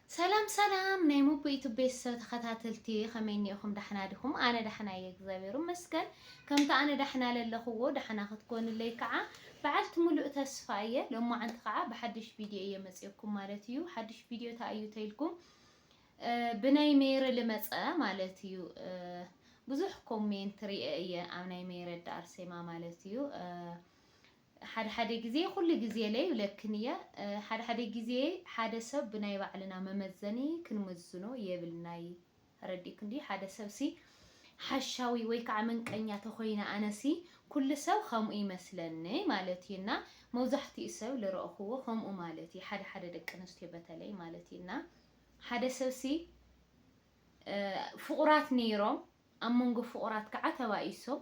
ሰላም ሰላም ናይ ሙቡ ዩቱብ ቤተሰብ ተኸታተልቲ ከመይ እኒኦኹም ዳሕና ዲኹም? ኣነ ዳሕና እየ እግዚኣብሔር ይመስገን። ከምቲ ኣነ ዳሕና ለለኹዎ ዳሕና ክትኮኑለይ ከዓ በዓልቲ ሙሉእ ተስፋ እየ። ሎማዓንቲ ከዓ ብሓዱሽ ቪድዮ እየ መፂኦኩም ማለት እዩ። ሓዱሽ ቪድዮ እንታይ እዩ ተይልኩም ብናይ ሜሪ ልመፀ ማለት እዩ። ብዙሕ ኮሜንት ሪኤ እየ ኣብ ናይ ሜረዳ ኣርሴማ ማለት እዩ። ሓደ ሓደ ግዜ ኩሉ ግዜለ ይብለክን እየ ሓደ ሓደ ግዜ ሓደ ሰብ ብናይ ባዕልና መመዘኒ ክንምዝኖ የብልናይ ተረዲእክን ድዩ ሓደ ሰብሲ ሓሻዊ ወይ ከዓ መንቀኛ ተኮይነ ኣነሲ ኩሉ ሰብ ከምኡ ይመስለኒ ማለት እዩ እና መብዛሕትኡ ሰብ ልረእክዎ ከምኡ ማለት እዩ ሓደ ሓደ ደቂ ኣነስትዮ በተለይ ማለት እዩ እና ሓደ ሰብሲ ፍቁራት ነይሮም ኣብ መንጎ ፍቁራት ከዓ ተባኢሶም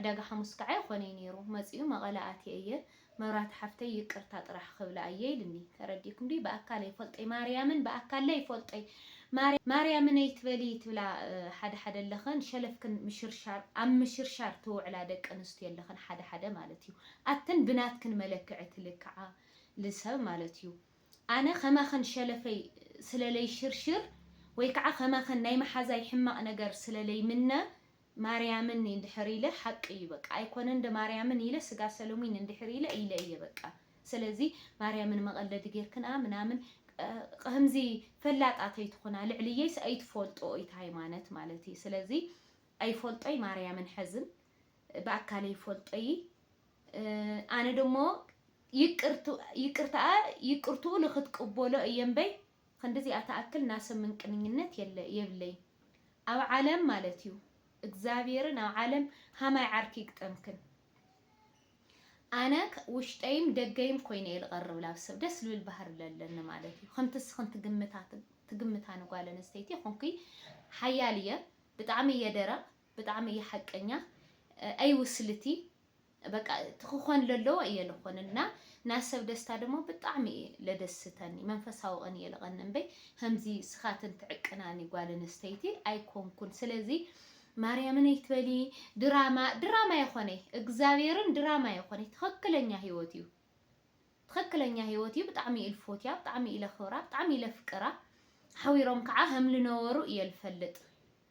ዕዳጋ ሓሙስ ካዓ ይኾነይ ነይሩ መፂኡ መቐለ ኣትየ እየ መብራህቲ ሓፍተይ ይቅርታ ጥራሕ ኽብላ እየ ኢልኒ ተረዲእኩም ድዩ ብኣካል ኣይፎልጠይ ማርያምን ብኣካል ኣይፎልጠይ ማርያምን ኣይትበሊ ትብላ ሓደ ሓደ ኣለኽን ሸለፍክን ምሽርሻር ኣብ ምሽርሻር ትውዕላ ደቂ ኣንስትዮ ኣለኽን ሓደ ሓደ ማለት እዩ ኣትን ብናትክን መለክዒ ትልክዓ ልሰብ ማለት እዩ ኣነ ኸማኽን ሸለፈይ ስለለይሽርሽር ወይ ካዓ ኸማኽን ናይ ማሓዛይ ሕማቅ ነገር ስለለይምነ ማርያምን እንድሕር ኢለ ሓቂ እዩ በቃ ኣይኮነን እንደ ማርያምን ኢለ ስጋ ሰሎሚን እንድሕር ኢለ ኢለ እየ በቃ ሰለዚ ማርያምን መቀለዲ ገርክንኣ ምናምን ኸምዚ ፈላጣት ኣይትኹና ልዕልየይስ ኣይትፎልጥኦ ኢት ሃይማነት ማለት እየ ሰለዚ ኣይፎልጦይ ማርያምን ሐዝን ብኣካለይ ይፎልጦ እዪ ኣነ ደሞ ይቅርትኣ ይቅርትኡ ልክትቅቦሎ እየ እምበይ ኽንድዚኣ ትኣክል ናሰብ ምንቅንኝነት የለ የብለይን ኣብ ዓለም ማለት እዩ እግዛብሄርን ኣብ ዓለም ሃማይ ዓርኪ ይግጠምክን ኣነ ውሽጠይም ደገይም ኮይነ እየ ልቀርብ ላብ ሰብ ደስ ልብል ባህሪ ለለኒ ማለት እዩ ኽምቲ እስኽን ትግምታ ትግምታ ንጓል ኣንስተይቲ ይኹንኪ ሓያል እየ ብጣዕሚ እየ ደረቅ ብጣዕሚ እየ ሓቀኛ ኣይ ውስልቲ በቃ እቲ ክኾን ለለዎ እየ ልኾን እና ናይ ሰብ ደስታ ደሞ ብጣዕሚ እየ ለደስተኒ መንፈሳዊ ቕን እየ ልቐን እምበይ ከምዚ ስኻትን ትዕቅናኒ ጓል ኣንስተይቲ ኣይኮንኩን ስለዚ ማርያምን ኣይትበሊ ድራማ ድራማ የኾነይ እግዚኣብሔርን ድራማ የኾነይ ትኽክለኛ ህይወት እዩ ትኽክለኛ ህይወት እዩ ብጣዕሚ እዩ ልፎትያ ብጣዕሚ እዩ ለኽብራ ብጣዕሚ እዩ ለፍቅራ ሓዊሮም ከዓ ከም ልነበሩ እየ ልፈልጥ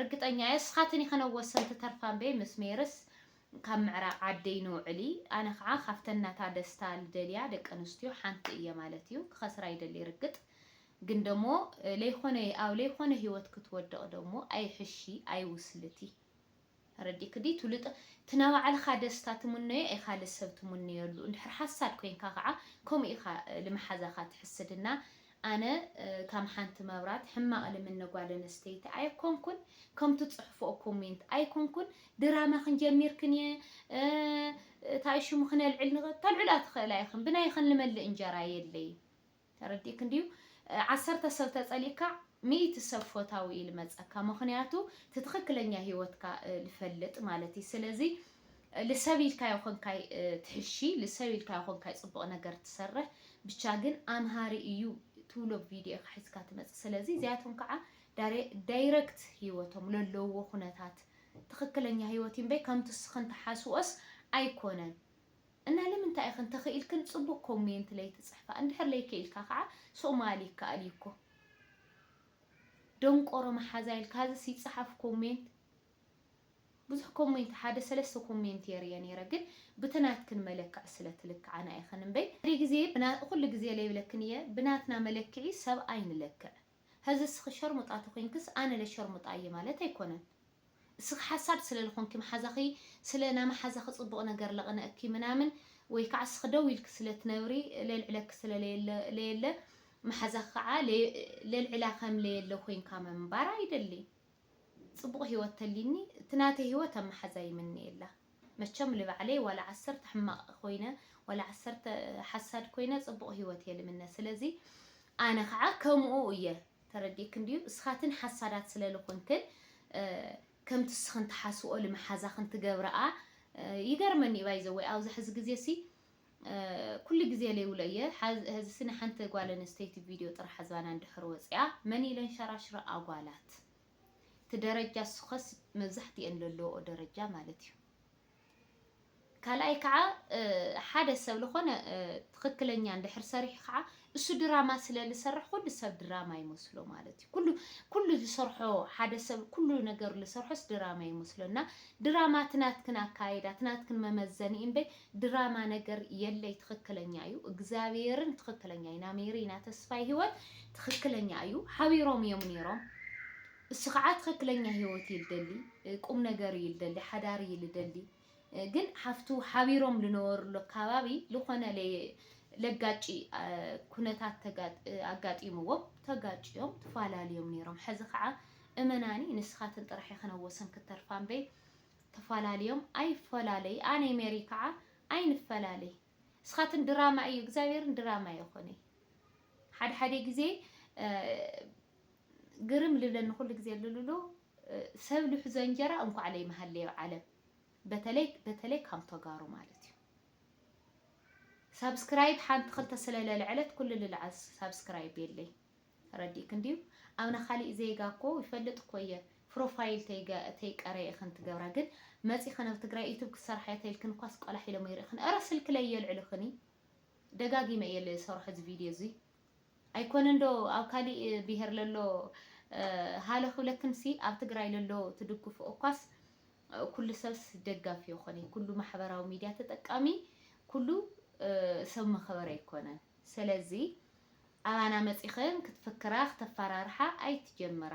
ርግጠኛ እየ እስኻትኒ ከነ ወሰንቲ ተርፋ እምበይ ምስ ሜርስ ካብ ምዕራብ ዓደይ ንውዕሊ ኣነ ከዓ ካብተን ናታ ደስታ ልደልያ ደቂ ኣንስትዮ ሓንቲ እየ ማለት እዩ ክኸስራ ይደሊ ርግጥ ግን ደሞ ለይኾነ ኣብ ለይኾነ ህይወት ክትወድቅ ደሞ ኣይሕሺ ኣይውስልቲ ተረዲእኪ ድዩ ትውልጥ እቲ ናባዕልኻ ደስታ ትምነዮ ኢኻ ልሰብ ትምነየሉ እንድሕር ሓሳድ ኮይንካ ከዓ ከምኡ ኢኻ ልመሓዛኻ ትሕስድ እና ኣነ ካም ሓንቲ መብራት ሕማቅ ልምኒ ጓል ኣነስተይቲ ኣይኮንኩን ከምቱ ፅሕፎኦ ኮሜንት ኣይኮንኩን ድራማ ክንጀሚር ክንየ ታይ ሹሙ ክነልዕል ንክ ተልዕላ ትክእላ ኢክን ብናይክን ልመልእ እንጀራ የለይ ተረዲእክን ድዩ ዓሰርተ ሰብ ተፀሊእካ ሚእቲ ሰብ ፎታዊ እዩ ልመፀካ ምክንያቱ ትትክክለኛ ሂወትካ ልፈልጥ ማለት እዩ ስለዚ ልሰብ ኢልካዮ ኮንካይ ትሕሺ ልሰብ ኢልካዮ ኮንካይ ጽቡቅ ነገር ትሰርሕ ብቻ ግን ኣምሃሪ ኢዩ ትብሎ ቪድዮ ኢካ ሒዝካ ትመጽእ ስለዚ እዚኣቶም ካዓ ዳይረክት ሂወቶም ለለውዎ ኩነታት ትክክለኛ ሂወት ኢዩ እምበይ ከምቲ እስክን ትሓስብኦስ ኣይኮነን እና ልምንታይ ኢክን ተክኢልክን ጽቡቅ ኮሜንት ለይትጽሕፋ እንድሕር ለይክኢልካ ካዓ ሶማሊ ይካኣል ኢዩ እኮ ደንቆሮ ማሓዛ ኢልካ ዝስ ይጻሓፍ ኮሜንት ብዙሕ ኮሜንት ሓደ ሰለስተ ኮሜንት እየ ሪኤ ነይረ ግን ብቲ ናትክን መለክዕ ስለ ትልክዓና ኢክን እምበይ ሓደ ግዜ ብና ኩሉ ግዜ ለይብለክን እየ ብናትና መለክዒ ሰብ ኣይንለክዕ ሀዚ እስኪ ሸርሙጣ ተኮይንክስ ኣነ ለ ሸርሙጣ እየ ማለት ኣይኮነን እስኪ ሓሳድ ስለ ልኮንኪ ማሓዛኪ ስለ ናማሓዛኪ ፅቡቅ ነገር ለቅነእኪ ምናምን ወይ ካዓ እስኪ ደው ኢልኪ ስለ ትነብሪ ለልዕለኪ ስለ ለየለ ማሓዛኪ ካዓ ለልዕላ ከም ለየለ ኮይንካ ምንባር ኣይደልይ ጽቡቕ ሂወት ተሊኒ እቲ ናተይ ሂወት ኣብ ማሓዛ ይምነየላ መቸም ልባዕለይ ዋላ ዓሰርተ ሕማቕ ኮይነ ዋላ ዓሰርተ ሓሳድ ኮይነ ጽቡቕ ሂወት እየ ልምነ ስለዚ ኣነ ካዓ ከሙኡ እየ ተረዲእክን ድዩ እስኻትን ሓሳዳት ስለ ልኹንክን ከምቲ እስኽን ትሓስብኦ ልማሓዛኽን ትገብራኣ ይገርመኒ እዩ ባይዘወይ ኣብዛ ሕዚ ግዜ ሲ ኩሉ ግዜ ለይብሎ እየ ሀዝሲ ናይ ሓንቲ ጋል ኣንስተይቲ ቪድዮ ጥራሕ ዝባና እንድሕር ወፂኣ መን ኢለን ሸራሽረኣ ጓላት እቲ ደረጃ እሱከስ መብዛሕቲኤን ለለወኦ ደረጃ ማለት እዩ ካልኣይ ከዓ ሓደ ሰብ ልኮነ ትክክለኛ እንድሕር ሰሪሑ ከዓ እሱ ድራማ ስለ ልሰርሕ ኩሉ ሰብ ድራማ ይመስሎ ማለት እዩ ኩሉ ኩሉ ዝሰርሖ ሓደ ሰብ ኩሉ ነገር ልሰርሖስ ድራማ ይመስሎ እና ድራማ ትናትክን ኣካይዳ ትናትክን መመዘኒ እምበይ ድራማ ነገር የለይ ትክክለኛ እዩ እግዚኣብሔርን ትክክለኛ እዩ ናሜሪ ኢና ተስፋይ ህይወት ትክክለኛ እዩ ሓቢሮም እዮም ነይሮም እሱ ከዓ ትክክለኛ ህይወት ይልደሊ ቁም ነገር ይልደሊ ሓዳር ይልደሊ ግን ሓፍቱ ሓቢሮም ልነበሩሉ ኣካባቢ ልኾነ ለጋጭ ኩነታት ኣጋጢምዎም ተጋጭዮም ትፋላልዮም ነይሮም ሐዚ ከዓ እመናኒ ንስኻትን ጥራሕ ኢኽን ኣብ ወሰን ክተርፋ እምበይ ተፋላልዮም ኣይፈላለይ ኣነይ ሜሪ ከዓ ኣይንፈላለይ እስኻትን ድራማ እዩ እግዚኣብሔርን ድራማ የኾነይ ሓደ ሓደ ግዜ ግርም ልብለኒ ኩሉ ግዜ ልሉሉ ሰብ ልሕዞ እንጀራ እንኳዕ ለይመሃለዮ ዓለም በተለይ በተለይ ካም ቶጋሩ ማለት እዩ ሳብስክራይብ ሓንቲ ክልተ ስለ ለልዐለት ኩሉ ልልዓል ሳብስክራይብ የለይ ተረዲእክ እንድዩ ኣብ ናካሊእ ዜጋ እኮ ይፈልጥ እኮ እየ ፕሮፋይል ተይቀረየ ኢኽን ትገብራ ግን መፂኽን ኣብ ትግራይ ዩቱብ ክትሰርሓ ተይልክን እኳስ ቆላሕ ኢሎም ይርእኽን እረ ስልክለይ የልዕልኽኒ ደጋጊመ እየ ዝሰርሖ እዚ ቪድዮ እዙይ ኣይኮነን ዶ ኣብ ካሊእ ብሄር ለሎ ሃሎ ክብለክን ሲ ኣብ ትግራይ ለሎ ትድግፉ እኳስ ኩሉ ሰብስ ደጋፊ የኮነይ ኩሉ ማሕበራዊ ሚድያ ተጠቃሚ ኩሉ ሰብ መኸበሪ ኣይኮነን ሰለዚ ኣባና መፂኽን ክትፍክራ ክተፋራርሓ ኣይትጀምራ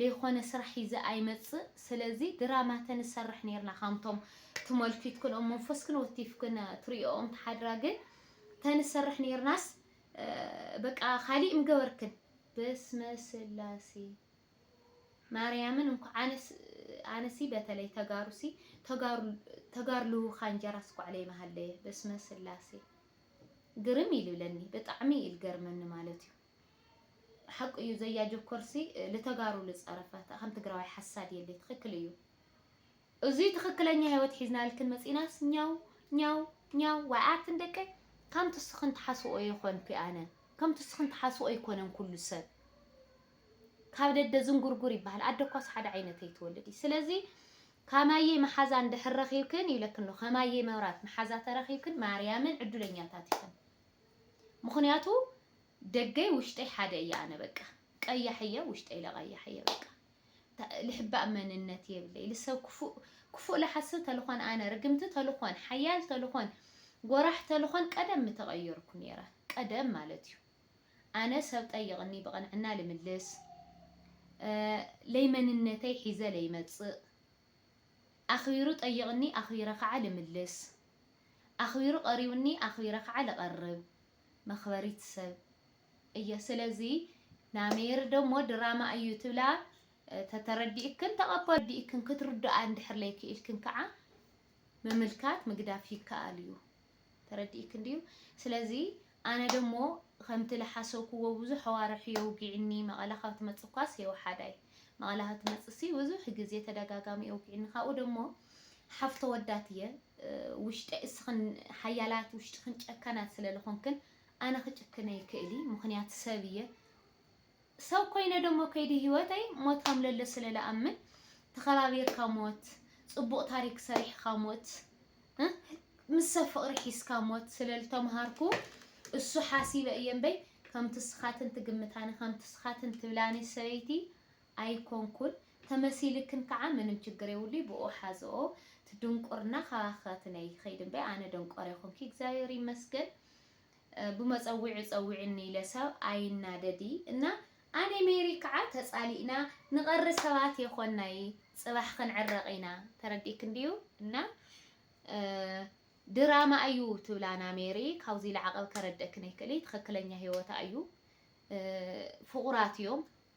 ለይኾነ ስራሕ ሒዘ ኣይመጽእ ስለዚ ድራማ ተንሰርሕ ነርና ካምቶም ትመልኪትክን ኦም መንፈስክን ወቲፍክን ትርእዮኦም ትሓድራ ግን ተንሰርሕ ነርናስ በቃ ካሊእ ምገበርክን በስመ ስላሴ ማርያምን እንኳዕ ኣነስ ኣነሲ በተለይ ተጋሩሲ ተጋሩ ተጋርልውካ እንጀራ ስኳዕ ለይመሃለየ በስመ ስላሴ ግርም ይልብለኒ ብጣዕሚ ይልገርመኒ ማለት እዩ ሓቁ እዩ ዘያጆ ኮርሲ ልተጋሩ ልፀረፈ ከም ትግራዋይ ሓሳድ የለይ ትክክል እዩ እዙይ ትክክለኛ ህይወት ሒዝና ልክን መፂናስ ኛው ኛው ኛው ዋይ ኣትን ደቀይ ከም ትስክን ትሓስብኦ የኮንኩ ኣነ ከም ትስክን ትሓስብኦ ኣይኮነን ኩሉ ሰብ ካብ ደደ ዝንጉርጉር ይበሃል ኣደ እኳስ ሓደ ዓይነት ኣይትወልድ እዩ ስለዚ ካማየይ መሓዛ እንድሕር ረኺብክን ይብለክን ኣሎ ከማየይ መብራት መሓዛ ተረኺብክን ማርያምን ዕዱለኛታት ኢኽን ምኽንያቱ ደገይ ውሽጠይ ሓደ እየ ኣነ በቃ ቀያሕ እየ ውሽጠይ ለቀያሕ እየ በቃ ልሕባእ መንነት የብለይ ልሰብ ክፉእ ክፉእ ልሓስብ ተልኾን ኣነ ርግምቲ ተልኾን ሓያል ተልኾን ጎራሕ ተልኾን ቀደም ምተቀየርኩ ነይረ ቀደም ማለት እዩ ኣነ ሰብ ጠይቅኒ ብቅንዕና ልምልስ ለይመንነተይ ሒዘ ለይመፅእ ኣኽቢሩ ጠይቅኒ ኣኽቢረ ከዓ ልምልስ ኣኽቢሩ ቀሪብኒ ኣኽቢረ ከዓ ልቀርብ መክበሪት ሰብ እየ ስለዚ ናሜሪ ደሞ ድራማ እዩ ትብላ ተተረዲእክን ተቐበሉ ዲእክን ክትርድኣ እንድሕር ለይክኢልክን ከዓ ምምልካት ምግዳፍ ይከኣል እዩ ተረዲእክን ድዩ ስለዚ ኣነ ደሞ ከምቲ ዝሓሰብክዎ ብዙሕ ኣዋርሕ የውጊዕኒ መቐለ ካብ ትመፅእ እኳስ የውሓዳይ መቐለ ካብ ትመፅእ ሲ ብዙሕ ግዜ ተደጋጋሚ የውጊዕኒ ካብኡ ደሞ ሓፍቶ ወዳት እየ ውሽጠይ እስኽን ሓያላት ውሽጥኽን ጨካናት ስለ ልኾንክን ኣነ ክጭክን ኣይክእሊ ምኽንያት ሰብ እየ ሰብ ኮይነ ደሞ ከይዲ ህይወተይ ሞት ከም ለለ ስለ ልኣምን ተኸባቢርካ ሞት ፅቡቕ ታሪክ ሰሪሕኻ ሞት ምስ ሰብ ፍቕሪ ሒዝካ ሞት ስለ ልተምሃርኩ እሱ ሓሲበ እየ እምበይ ከምቲ እስኻትን ትግምታኒ ከምቲ እስኻትን ትብላኒ ሰበይቲ ኣይኮንኩን ተመሲልክን ካዓ ምንም ችግር የብሉይ ብኡኡ ሓዝኦ እቲ ድንቁርና ካባኪ ክነይ ይከይድ እምበይ ኣነ ደንቆሮ ኣይኮንኪ እግዚኣብሔር ይመስገን ብመፀዊዑ ፀዊዕኒ ኢለ ሰብ ኣይናደዲ እና ኣኔ ሜሪ ካዓ ተፃሊእና ንቀሪ ሰባት የኮናይ ፅባሕ ክንዕረቅ ኢና ተረዲእክ እንድዩ እና ድራማ ኣዩ ትብላና ሜሪ ካውዙይ ላዕቀብ ከረደእክን ኣይክእልይ ትክክለኛ ሂወታ ኣዩ ፍቁራት እዮም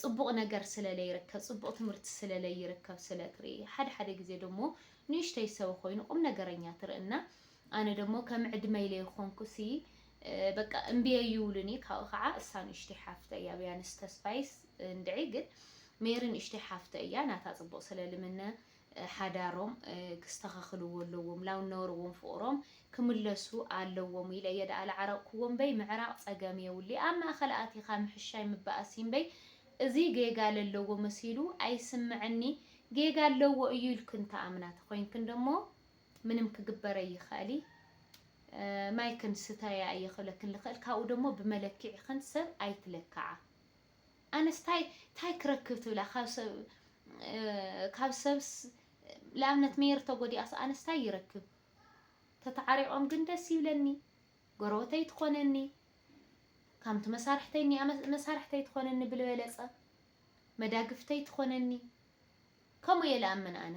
ጽቡቕ ነገር ስለ ለይርከብ፣ ጽቡቕ ትምህርቲ ስለ ለይርከብ ስለ ትርኢ። ሓደ ሓደ ግዜ ደሞ ንእሽተይ ሰበ ኮይኑ ቁም ነገረኛ ትርኢ እና ኣነ ደሞ ከም ዕድመይ ለይኾንኩሲ በቃ እምቢ ኣይብሉኒ ካብኡ ከዓ እሳ ንእሽተይ ሓፍተይ እያ ብያንስ ተስፋይስ እንድዒ ግን ሜሪ ንእሽተይ ሓፍተይ እያ ናታ ጽቡቕ ስለ ልምነ ሓዳሮም ክስተኻኽልዎ ኣለዎም ላብ ነበርዎም ፍቕሮም ክምለሱ ኣለዎም ኢለ እየ ደኣ ልዓረቕክዎ እምበይ ምዕራቕ ጸገም የውሊ ኣብ ማእኸል ኣቲኻ ምሕሻይ ምባኣስ እዩ እምበይ እዚ ጌጋ ለለዎ መሲሉ ኣይስምዕኒ ጌጋ ኣለዎ እዩ ኢልክን ትኣምና ተኾይንክን ደሞ ምንም ክግበር ኣይኽኣሊ ማይክን ስተያ እየ ክብለክን ልኽእል ካብኡ ደሞ ብመለኪዒኽን ሰብ ኣይትለክዓ። ኣነስ ታይ ታይ ክረክብ ትብላ ካብ ሰብ ካብ ሰብስ ንኣብነት ሜሪ ተጎዲኣስ ኣነስ ታይ ይረክብ ተታዓሪቆም ግን ደስ ይብለኒ ጎረበተይ ትኾነኒ ካምቲ መሳርሕተይ እኒኣ መሳርሕተይ ትኾነኒ ብልበለፀ መዳግፍተይ ትኾነኒ ከምኡ እየ ልኣምን ኣነ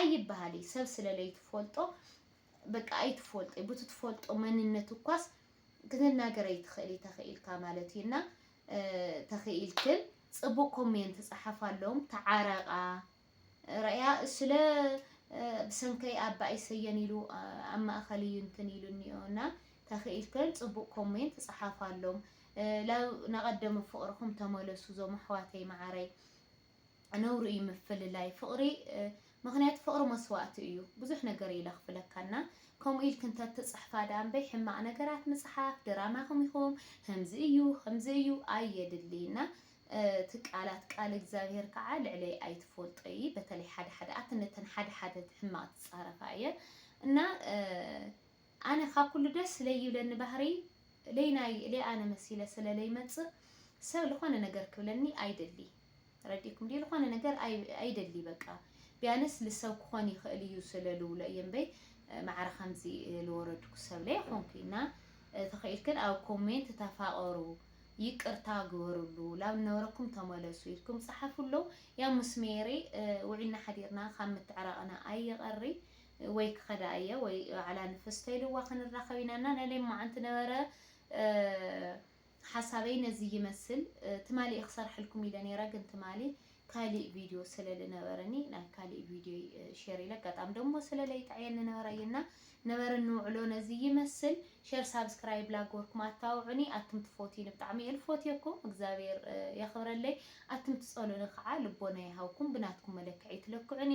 ኣይበሃል እዩ ሰብ ስለለይትፎልጦ በቃ ኣይትፎልጦ ቡቲ ትፎልጦ መንነት እኳስ ክትናገር ኣይትኽእል ተኽኢልካ ማለት እዩ እና ተኽኢልክን ፅቡቅ ኮሜንት ፀሓፋሎም ተዓረቃ ረእያ ስለ ብሰንከይ ኣባይ ሰየን ኢሉ ኣብ ማእኸል እዩ እንትን ኢሉ እኒኦ እና ተኽኢልክን ፅቡቅ ኮሜንት ፀሓፋሎም ናብ ናቀደመ ፍቅርኹም ተመለሱ ዞም ኣሕዋተይ መዓረይ ነውሪ እዩ ምፍልላይ ፍቕሪ ምክንያቱ ፍቕሪ መስዋእቲ እዩ ብዙሕ ነገር እዩ ለኽፍለካና ከምኡ ኢልክ እንተ ትፅሕፋ ዳኣ እምበይ ሕማቕ ነገራት ምፅሓፍ ድራማኹም ኢኹም ከምዚ እዩ ከምዚ እዩ ኣየድሊ እና እቲ ቃላት ቃል እግዚኣብሄር ከዓ ልዕለይ ኣይትፈልጦ እዪ በተለይ ሓደ ሓደ ኣቲ ነተን ሓደ ሓደ ሕማቅ ትፃረፋ እየን እና ኣነ ካብ ኩሉ ደስ ለይብለኒ ባህርይ ለይናይ እለ ኣነ መሲለ ሰለ ለይመጽእ ሰብ ልኾነ ነገር ክብለኒ ኣይደሊ ረዲእኩም ድዩ ልኾነ ነገር ኣይደሊ በቃ ቢያንስ ልሰብ ክኾን ይኽእል እዩ ስለ ልውሎ እየ እምበይ ማዕረ ከምዚ ልወረድኩ ሰብ ለይኾንኩ እና ተኸኢልክን ኣብ ኮሜንት ተፋቐሩ ይቅርታ ግበርሉ ላብ ነበረኩም ተመለሱ ኢልኩም ጸሓፍሉ ያም ምስ ሜሪ ውዒልና ሓዲርና ካብ ምትዕራቕና ኣይቐሪ ወይ ክኸዳ እየ ወይ ባዕላ ንፍስቶ ኢልዋ ክንራኸብ ኢና እና ናይ ሌማዓንቲ ነበረ ሓሳበይ ነዚ ይመስል ትማሊ እየ ክሰርሐልኩም ኢለ ነይረ ግን ትማሊ ካሊእ ቪድዮ ስለ ልነበረኒ ናይ ካሊእ ቪድዮ ሼር ኢለ ኣጋጣሚ ደሞ ስለ ለይጠዕየኒ ነበረ እዩ እና ነበረ ንውዕሎ ነዚ ይመስል ሼር ሳብስክራይብ ላጎርኩም ኣታውዑኒ ኣቱም ትፎትዩኒ ብጣዕሚ እየ ልፎትየኩም እግዚኣብሔር የኽብረለይ ኣቱም ትጸሉኒ ከዓ ልቦና ይሃብኩም ብናትኩም መለክዒ ትለክዑኒ